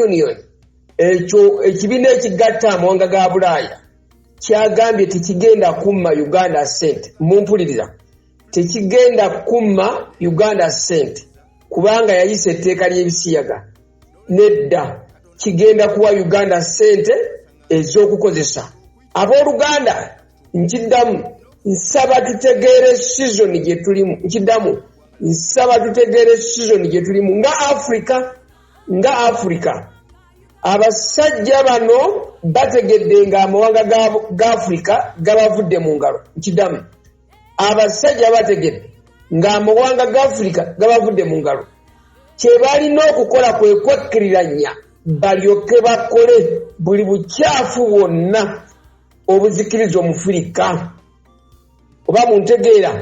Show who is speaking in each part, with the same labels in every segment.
Speaker 1: union ekyo ekibiina ekigatta amawanga ga bulaaya kyagambye tekigenda kumma uganda sente mumpulirira tekigenda kumma uganda sente kubanga yayisa etteeka ly'ebisiyaga nedda kigenda kuwa uganda sente ez'okukozesa abooluganda nkiddamu nsaba tutegeere sizoni gye tulimu nkiddamu nsaba tutegeere sizoni gye tulimu nga afrika nga afirika abasajja bano bategedde nga amawanga ga afirika gabavudde mu ngalo nkidamu abasajja bategedde nga amawanga ga afirika gabavudde mu ngalo kyebalina okukola kwe kwekkiriranya balyoke bakole buli bukyafu bwonna obuzikiriza omufirika oba muntegeera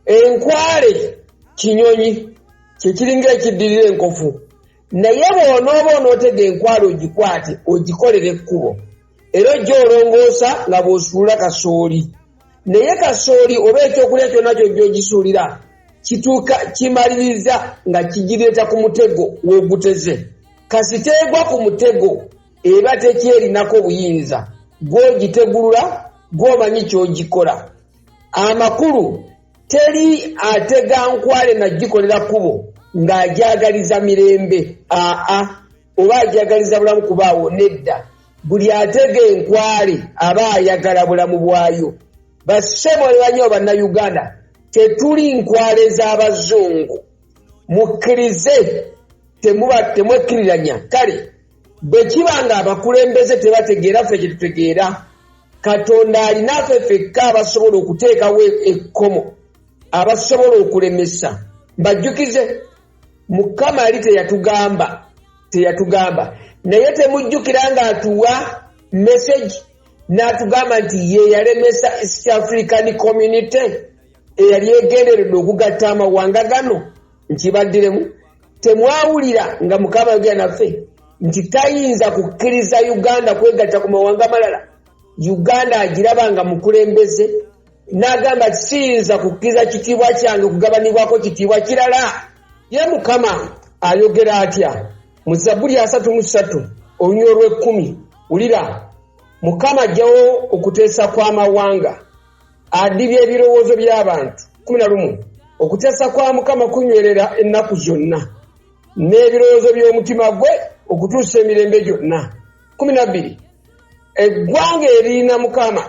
Speaker 1: enkwale kinyonyi kyekiringa ekiddirira enkofu naye bwonooba onootega enkwale ogikwate ogikolera ekkubo era ojja olongoosa nga bw'osuula kasooli naye kasooli oba ekyokulya kyonna kyojja ogisuulira kituuka kimaliriza nga kigireeta ku mutego w'oguteze kasiteegwa ku mutego eba tekyerinako buyinza gwogitegulula gwomanyi kyogikola amakulu teri atega nkwale nagikolera kubo ng'agyagaliza mirembe aa oba agyagaliza bulamu kubaawo nedda buli atega enkwale aba ayagala bulamu bwayo basebolebanya obannayuganda tetuli nkwale z'abazungu mukkirize temwekkiriranya kale bwe kiba ng'abakulembeze tebategeera ffe kye tutegeera katonda alinafe fekka abasobola okuteekawo ekkomo abasobola okulemesa mbajjukize mukama ali teyatugamba teyatugamba naye temujjukira ng'atuwa message n'atugamba nti ye yalemesa east african community eyali egenderedde okugatta amawanga gano nti baddiremu temwawulira nga mukama yogera naffe nti tayinza kukkiriza uganda kwegatta ku mawanga amalala uganda agiraba nga mukulembeze n'agamba ti siyinza kukkiriza kitiibwa kyange kugabanibwako kitiibwa kirala ye mukama ayogera atya mu zabbuli asatu mu ssatu olunya olw'ekkumi wulira mukama ajjawo okuteesa kw'amawanga adibya ebirowoozo by'abantu kumi na lumu okuteesa kwa mukama kunywerera ennaku zonna n'ebirowoozo by'omutima gwe okutuusa emirembe gyonna kumi na bbiri eggwanga eriina mukama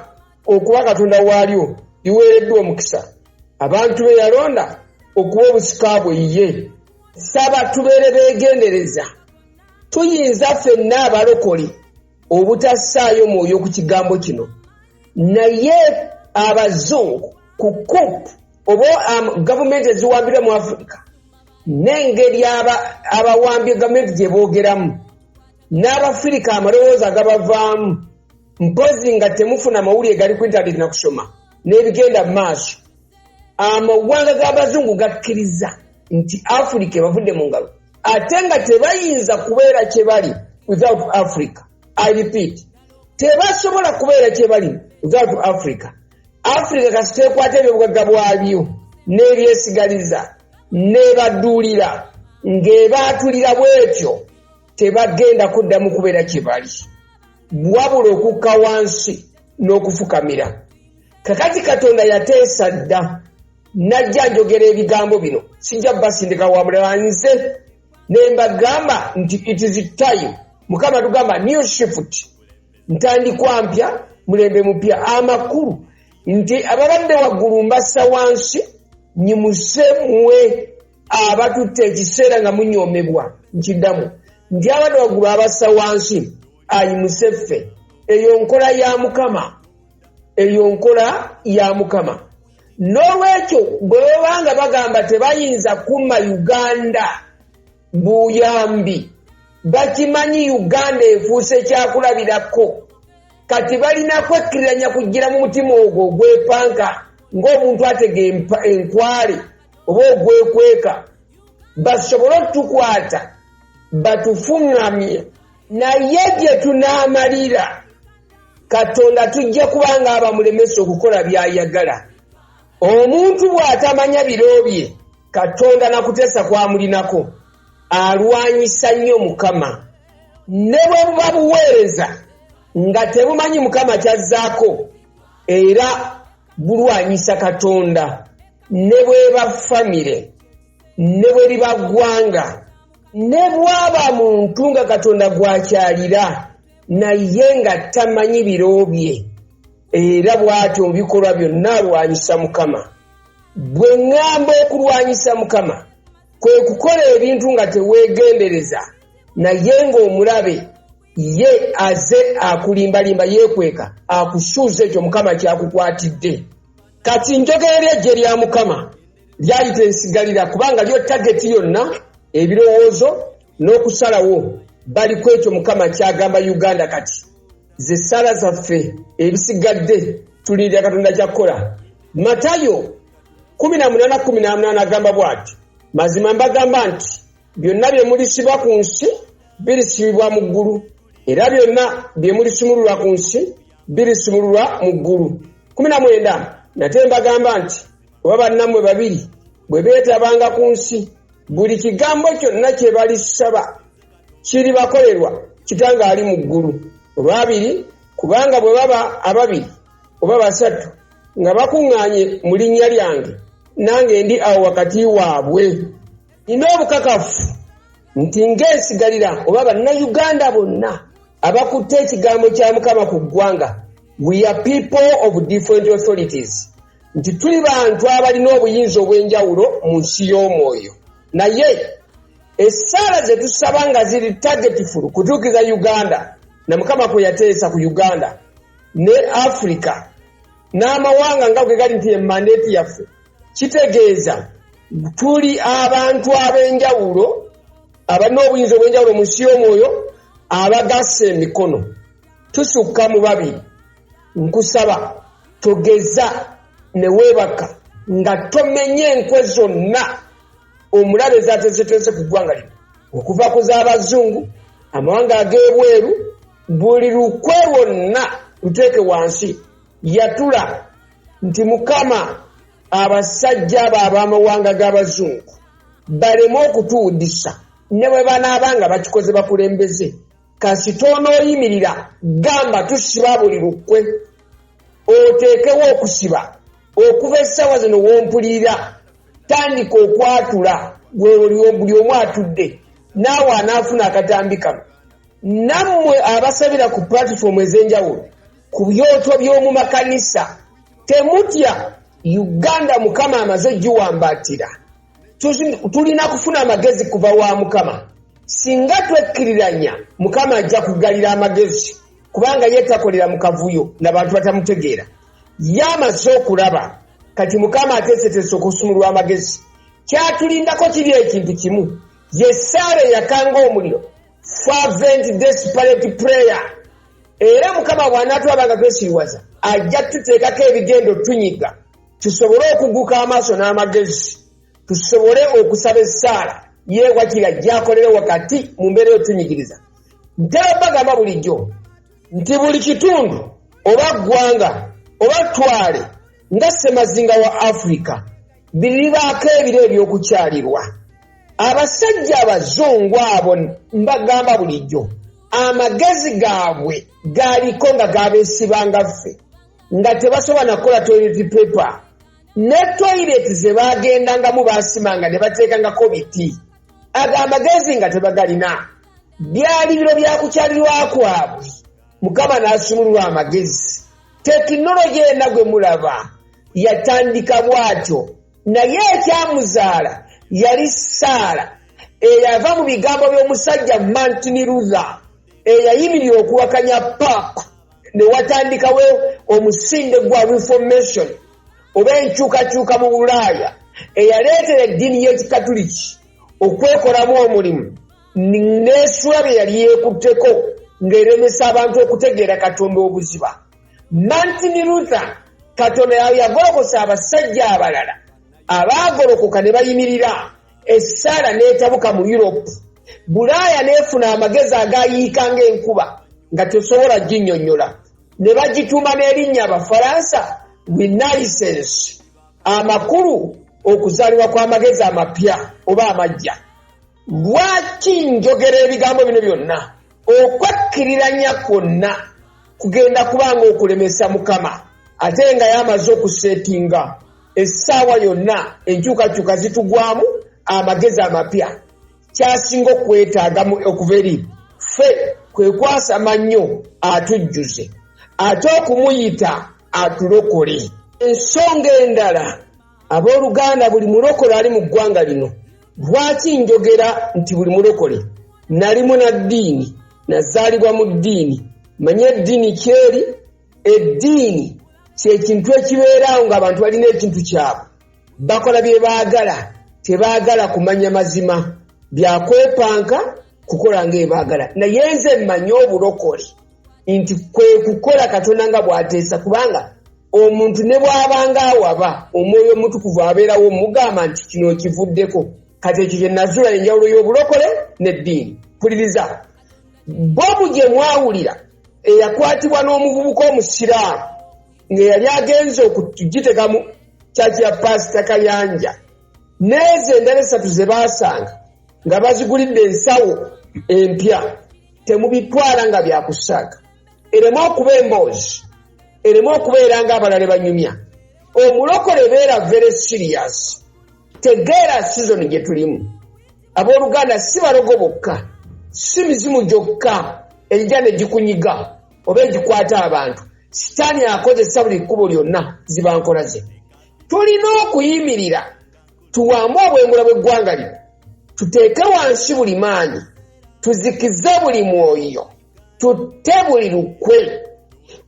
Speaker 1: okuba katonda waalyo liweereddwa omukisa abantu be yalonda okuba obusika bwe ye saba tubeere beegendereza tuyinza fenna abalokole obutassaayo mwoyo ku kigambo kino naye abazungu ku kup oba um, gavumenti eziwambirwa mu afirika n'engeri abawambye gavumenti gye boogeramu n'abafirika amalowooza agabavaamu mpozi nga temufuna mawulire gali ku intaneti na kusoma n'ebigenda mu maaso amawanga g'abazungu gakkiriza nti afirika ebavudde mu ngalo ate nga tebayinza kubeera kye bali without africa i repeat tebasobola kubeera kye bali without africa africa kasiteekwata ebyobugagga bwabyo n'ebyesigaliza nebaduulira ng'ebaatulira bwetyo tebagenda kuddamu kubeera kye bali wabula okukka wansi n'okufukamira kakati katonda yateesa dda najja njogera ebigambo bino sijja basindika wa mulala nze ne mbagamba nti it is time mukama tugamba new shift ntandikwa mpya mulembe mupya amakulu nti ababadde waggulu mbassa wansi nyimuse mwe abatutte ekiseera nga munyoomebwa nkiddamu nti abadde waggulu abassa wansi ayimuse ffe eyo nkola ya mukama eyo nkola ya mukama n'olwekyo bwe babanga bagamba tebayinza kuma uganda buyambi bakimanyi uganda efuuse kyakulabirako kati balina kwekkiriranya kugira mu mutima ogwo ogwepanka ng'omuntu atega enkwale oba ogwekweka basobole okutukwata batufuŋŋamye naye gye tunaamalira Katonda tujja kuba ng'abamulemesa okukola by'ayagala. Omuntu bw'atamanya biro bye, Katonda na kuteesa kw'amulinako, alwanyisa nnyo Mukama. Ne bwe buba buweereza nga tebumanyi Mukama ky'azzaako, era bulwanyisa Katonda. Ne bw'eba famire, ne bwe liba ggwanga, ne bw'aba muntu nga Katonda gw'akyalira. naye nga tamanyi biro bye era bw'atyo mu bikolwa byonna alwanyisa mukama bwe ŋŋamba okulwanyisa mukama kwe kukola ebintu nga teweegendereza naye ng'omulabe ye aze akulimbalimba yeekweka akusuuza ekyo mukama kyakukwatidde kati njogerera eggye lya mukama lyali tensigalira kubanga lyo tageti yonna ebirowoozo n'okusalawo bali ku ekyo mukama kyagamba uganda kati ze ssaala zaffe ebisigadde tulindirira katonda kyakukola matayo 1818 agamba bwati mazima mbagamba nti byonna bye mulisiba ku nsi birisibibwa mu ggulu era byonna bye mulisumululwa ku nsi birisumululwa mu ggulu 19 nate mbagamba nti oba bannammwe babiri bwe beetabanga ku nsi buli kigambo kyonna kye balisaba kiribakolerwa kitanga ali mu ggulu olwabiri kubanga bwe baba ababiri oba basatu nga bakuŋŋaanye mu linnya lyange nange ndi awo wakati waabwe nina obukakafu nti ng'esigalira oba bannayuganda bonna abakutte ekigambo kya mukama ku ggwanga we are people of different authorities nti tuli bantu abalina obuyinza obw'enjawulo mu nsi y'omwoyo naye essaala ze tusaba nga ziri tagetifulu kutuukiza uganda na mukama kwe yateesa ku uganda ne afirika n'amawanga nga bwe gali nti emandeeti yaffe kitegeeza tuli abantu ab'enjawulo abalina obuyinza obw'enjawulo mu nsi y'omwoyo abagasse emikono tusukka mu babiri nkusaba togeza ne weebaka nga tomenye enkwe zonna omulabe zateeseteese ku ggwanga lino okuva ku z'abazungu amawanga ag'ebweru buli lukwe lwonna luteeke wansi yatula nti mukama abasajja abo ab'amawanga g'abazungu baleme okutuwudisa ne bwe banaaba nga bakikoze bakulembeze kasita onooyimirira gamba tusiba buli lukwe oteekewo okusiba okuva essaawa zino wompulirira tandika okwatula buli omu atudde naawe anaafuna akatambi kano nammwe abasabira ku pulatifoomu ez'enjawulo ku byoto by'omu makanisa temutya uganda mukama amaze giwambatira tulina kufuna amagezi kuva wa mukama singa twekkiriranya mukama ajja kugalira amagezi kubanga ye takolera mu kavuyo nabantu batamutegeera ye amaze okulaba kati mukama ateeseteesa okusumulwa amagezi kyatulindako kiri ekintu kimu ye saala eyakanga omuliro fervent desperate prayer era mukama bw'anaatwaba nga twesiriwaza ajja tuteekako ebigendo tunyiga tusobole okuguka amaaso n'amagezi tusobole okusaba essaala ye wakira gyakolere wakati mu mbeera eyotunyigiriza ntera bagamba bulijjo nti buli kitundu oba ggwanga oba twale nga ssemazinga wa afirika biribaako ebiro ebyokukyalirwa abasajja abazungu abo mbagamba bulijjo amagezi gaabwe galiko nga gabesibanga ffe nga tebasobola nakukola toilet paper ne toilet zebagendangamu basimanga ne bateekangako biti ago amagezi nga tebagalina byalibiro byakukyalirwa kwabwe mukama n'asumulula amagezi tekinologi ena gwe mulaba yatandika bw'atyo naye ekyamuzaala yali saala eyava mu bigambo by'omusajja martin luther eyayimirira okuwakanya paapa ne watandikawo omusinde gwa reformation oba enkyukakyuka mu bulaaya eyaleetera eddiini y'ekikatuliki okwekolamu omulimu n'esuula bye yali yeekutteko ng'eremesa abantu okutegeera katonda obuziba martin luther katonda yagolokosa abasajja abalala abaagolokoka ne bayimirira essaala n'etabuka mu europe bulaaya n'efuna amagezi agayiika ng'enkuba nga tesobola ginnyonnyola ne bagituuma n'erinnya abafaransa renaissance amakulu okuzaalibwa kw'amagezi amapya oba amajja lwaki njogera ebigambo bino byonna okwekkiriranya kwonna kugenda kuba nga okulemesa mukama ate nga yamaze okuseetinga essaawa yonna enkyukakyuka zitugwamu amagezi amapya kyasinga okwetaaga okuva eri ffe kwe kwasama nnyo atujjuze ate okumuyita atulokole ensonga endala Abooluganda, buli mulokole ali mu ggwanga lino, lwaki njogera nti buli mulokole? Nali munaddiini, nazaalibwa mu ddiini, manya eddiini kyeri. Eddiini kye kintu ekibeerawo ng'abantu balina ekintu kyabwe, bakola bye baagala, tebaagala kumanya mazima, bya kwepanka kukola ng'ebaagala. Naye nze mmanyi obulokole. nti kwe kukola katonda nga bw'ateesa kubanga omuntu ne bw'abanga awaba omwoyo omutukuvu abeerawo mugamba nti kino okivuddeko kati ekyo kye nazuula enjawulo y'obulokole n'eddiini mpuliriza bobu gye mwawulira eyakwatibwa n'omuvubuka omusiraamu ng'eyali agenze okugitegamu kyaki ya paasita kayanja n'ezo endala essatu ze baasanga nga bazigulidde ensawo empya temubitwala nga byakusaaga ereme okuba emboozi ereme okubeera nga abalala banyumya omulokole beera very serious tegeera sizoni gye tulimu abooluganda si balogo bokka si mizimu gyokka egija ne gikunyiga oba egikwata abantu sitaani akozesa buli kkubo lyonna zibankola ze tulina okuyimirira tuwaamu obwengula bw'eggwanga lino tuteeke wansi buli maanyi tuzikize buli mwoyo tutte buli lukwe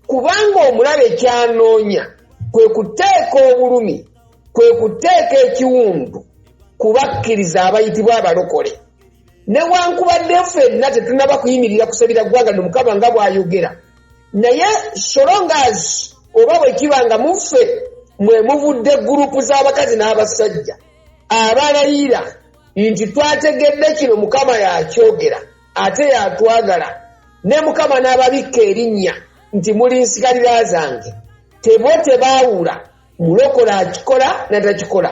Speaker 1: kubanga omulabe kyanoonya kwe kuteeka obulumi kwe kuteeka ekiwundu ku bakkiriza abayitibwa abalokole newankubadde ffenna tetunaba kuyimirira kusabira ggwanga nomukama nga bw'ayogera naye solongas oba bwe kiba nga muffe mwe muvudde gurupu z'abakazi n'abasajja abalayira nti twategedde kino mukama yakyogera ate yatwagala ne mukama n'ababikka erinnya nti muli nsigalira zange tebo tebaawula mulokole akikola natakikola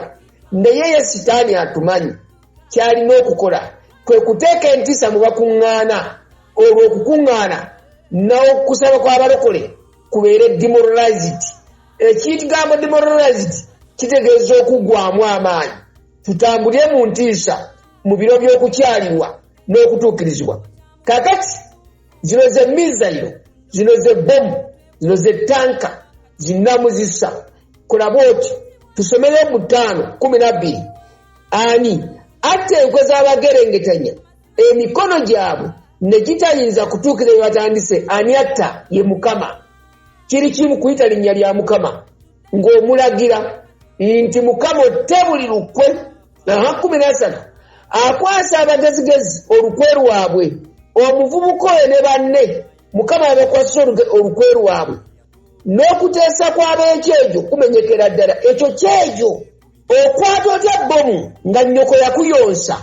Speaker 1: naye ye sitaani atumanyi kyalina okukola kwe kuteeka entisa mu bakuŋŋaana olwo okukuŋŋaana n'okusaba kw'abalokole kubeere demoralized ekigambo demoralized kitegeeza okuggwamu amaanyi tutambule mu ntiisa mu biro by'okukyalirwa n'okutuukirizibwa kakati zino ze mizayiro zino ze bomu zino ze tanka zinamuzisa kulaba oti tusomere mutaano kumi nabbiri ani atta enkwe z'abagerengetanya emikono gyabwe ne gitayinza kutuukira bye batandise ani atta ye mukama kiri kimu kuyita linnya lya mukama ng'omulagira nti mukama otte buli lukwe aha kumi n'esatu akwasa abagezigezi olukwe lwabwe omuvubuka oyo ne banne mukama yabakwasisa olukwe lwabwe n'okuteesa kw'ab'ekyejo kumenyekera ddala ekyo kyejo okwata otya bbomu nga nnyoko yakuyonsa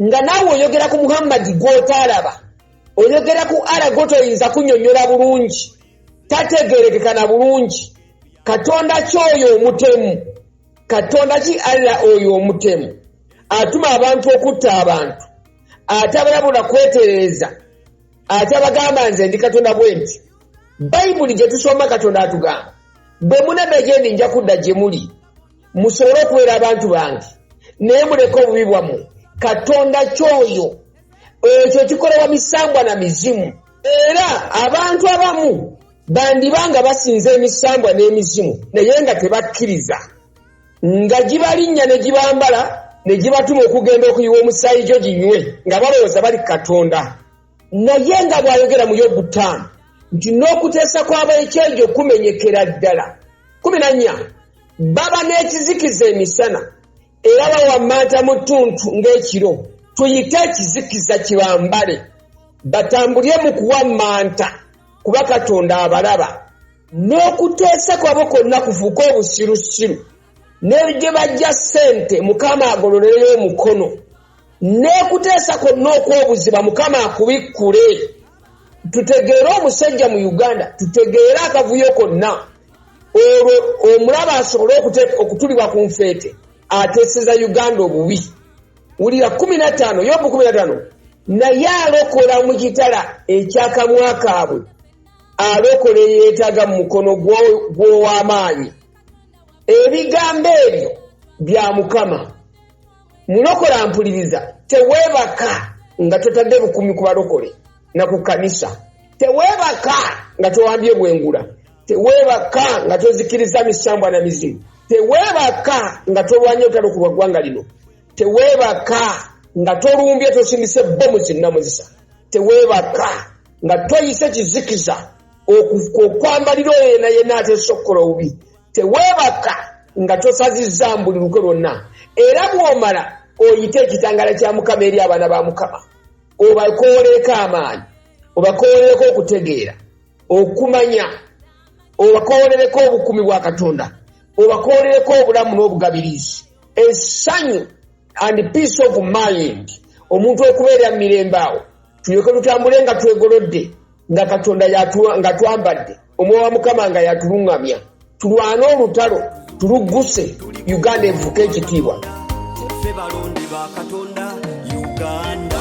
Speaker 1: nga naawe oyogera ku muhammadi gw'otaalaba oyogera ku ara gwotoyinza kunyonyola bulungi tategerekeka na bulungi katonda kyoyo omutemu katonda ki alla oyo omutemu atuma abantu okutta abantu atabalabula kwetereeza atabagamba nze ndi katonda bwe nti bayibuli gye tusoma katonda atugamba bwe munadda gye ndi nja kudda gye muli musobole okubeera abantu bange naye muleke obubi bwammwe katonda kyoyo ekyo kikolebwa misambwa na mizimu era abantu abamu bandiba nga basinza emisambwa n'emizimu naye nga tebakkiriza nga gibalinnya ne gibambala ne gibatuma okugenda okuyiwa omusaayi gyo ginywe nga balowooza bali katonda naye nga bw'ayogera mu yobu ttaano nti n'okuteesa kw'abaekyejo kumenyekera ddala kumi na nnya baba n'ekizikiza emisana era bawammanta mu ttuntu ng'ekiro tuyite ekizikiza kibambale batambulye mu kuwammanta kuba katonda abalaba n'okuteesa kwabo kwonna kufuuka obusirusiru ne gye bajja ssente mukama agololereyo omukono n'okuteesa kwonna okw'obuziba mukama akubikkule tutegeere omusajja mu uganda tutegeere akavuyo konna olwo omulaba asobole okutulibwa ku nfeete ateseza uganda obubi wulira kumi nataano yobu kumi nataano naye alokola mu kitala ekyakamwa kaabwe alokola eyeetaaga mu mukono gw'ow'amaanyi ebigambo ebyo bya mukama mulokola mpuliriza teweebaka nga totadde bukumi ku balokole na ku kanisa teweebaka nga towambye bwengula teweebaka nga tozikiriza misambwa na mizimu teweebaka nga tolwanye otalo ku bwaggwanga lino teweebaka nga tolumbye tosindise bomu zinnamuzisa teweebaka nga toyise kizikiza okwambalira oyo yena yena atesokkola obubi teweebaka nga tosazizza mbuli lukwe lwonna era bw'omala oyite ekitangala kya mukama eri abaana ba mukama obakooleeko amaanyi obakoolereko okutegeera okumanya obakoolereko obukumi bwa katonda obakoolereko obulamu n'obugabirizi esanyu and peace of mind omuntu okubeera mu mirembe awo tulyoke tutambule nga twegolodde nga katonda nga twambadde omwoyo wa mukama nga yatuluŋŋamya tulwane olutalo tulugguse uganda evuka
Speaker 2: ekitiibwa ffe balonde
Speaker 1: ba
Speaker 2: katonda uganda